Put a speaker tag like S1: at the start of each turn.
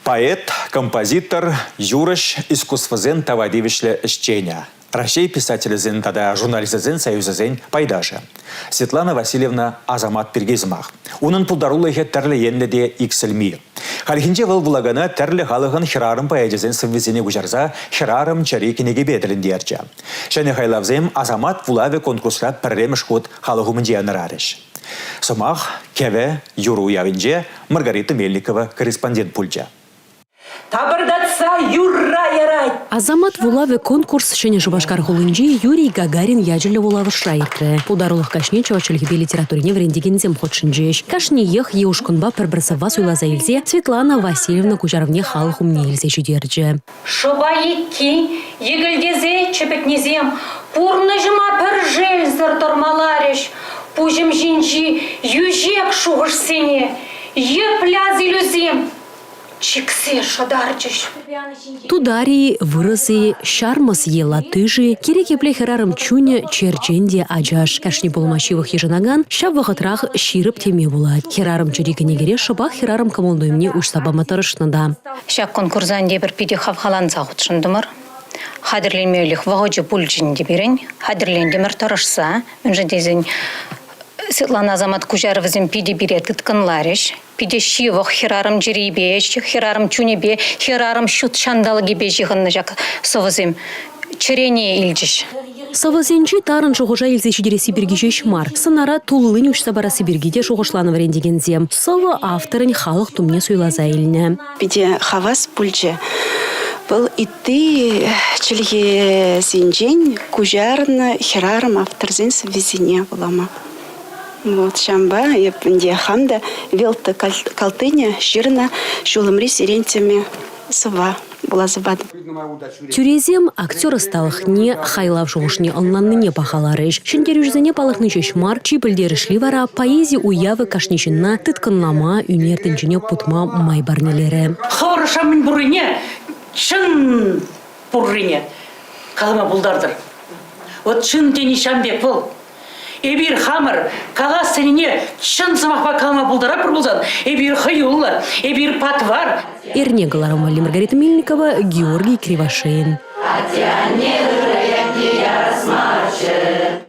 S1: Поэт, композитор, юрӑҫ, искусствӑсен тава тивӗҫлӗ ӗҫченӗ. Раҫҫей писателӗсен тата журналистсен союзӗсен пайташӗ. Светлана Васильевна Асамат пирки сӑмах. Унӑн пултарулӑхӗ тӗрлӗ енлӗ те иксӗлми. Хальхинче вӑл вулакана тӗрлӗ халӑхӑн хӗрарӑм поэчӗсен сӑввисене куҫарса «Хӗрарӑм» чӗри кӗнекипе тӗлӗнтерчӗ. Ҫӗнӗ хайлавсем Асамат вулавӗ конкурсра пӗрремӗш хут халӑх умӗнче янӑрарӗҫ. Сӑмах Кӗвӗ юр уявӗнче Маргарита Мельникова корреспондент пулчӗ. Тапӑртатса
S2: юрра ярать! Асамат вулавӗ
S3: конкурс Ҫӗнӗ Шупашкар хулинчи Юрий Гагарин ячӗллӗ вулавӑшра иртрӗ. Пултарулӑх каҫне чӑваш чӗлхипе литературине вӗрентекенсем хутшӑнчӗҫ. Кашниех е ушкӑнпа пӗр-пӗр сӑвва суйласа илсе Светлана Васильевна куҫарӑвне халӑх умне илсе ҫитерчӗ. Шӑпа екки,
S2: йӗкӗлтесе чӗпӗтнисем пурнӑҫӑма пӗр шелсӗр тӑрмаларӗҫ пуҫӑм ҫинчи йӳҫек шухӑшсене, йӗплӗ асилӳсем чиксе шӑтарчӗҫ. Тутари,
S3: вырӑс-и, ҫармӑс е латыш-и, кирек епле хӗрарӑм чунӗ черчен те ачаш. Кашни пулма ҫывӑх йышӑнакан ҫав вӑхӑтрах ҫирӗп теме пулать. Хӗрарӑм чӗри кӗнекере шӑпах хӗрарӑм кӑмӑл-туйӑмне уҫса пама тӑрӑшнӑ та. Ҫак конкурса
S4: тепӗр питӗ хавхаланса хутшӑнтӑмӑр. Хатӗрленмелӗх вӑхӑчӗ пулчӗ ӗнтӗ пирӗн. Хатӗрлентӗмӗр тӑрӑшса, мӗншӗн тесен Светлана Азамат куҫарӑвӗсем питӗ пире тыткӑнларӗҫ. Питӗ ҫывӑх хӗрарӑм чӗрипе, хӗрарӑм чунӗпе, хӗрарӑм ҫут ҫанталӑкӗпе ҫыхӑннӑ ҫак сӑвӑсем чӗрене илчӗҫ. Сӑвӑсенчи
S3: тарӑн шухӑша илсе ҫитересси пирки ҫеҫ мар, сӑнара туллин уҫса парасси пирки те шухӑшланӑ вӗрентекенсем. Сӑвӑ авторӗн халӑх тумне суйласа илнӗ. Питӗ хавас
S5: пулчӗ. Вӑл ытти чӗлхесенчен куҫарнӑ хӗрарӑм авторсен сӑввисене вулама. Вот ҫамба эп ӗнтӗ хам та вел та калтыне ҫырнӑ ҫулӑмри сирень тӗме Сӑва, пулас сӑватӑп. Тӳресем
S3: актер ӑсталӑхне, хайлав шухӑшне ӑнланнине пахаларӗҫ. Ҫӗнтерӳҫӗсене палӑртни ҫеҫ мар, чи пӗлтерӗшли вара поэзи уявӗ кашни ҫынна тыткӑнлама, ӳнер тӗнчине путма май парнелерӗ. Хӑвӑр ӑша мӗн
S2: пуррине, чӑн пуррине калама пултартӑр. Вот чӑн те ничан пек вӑл. Эпир хамӑр калас тенине чӑн сӑмахпа калама пултаратпӑр пулсан, эпир хӑюллӑ, эпир патвар. Эрне кӑларӑмлӑ
S3: Маргарита Мельникова, Георгий Кривошеин. Атя, не ярас марччӗ.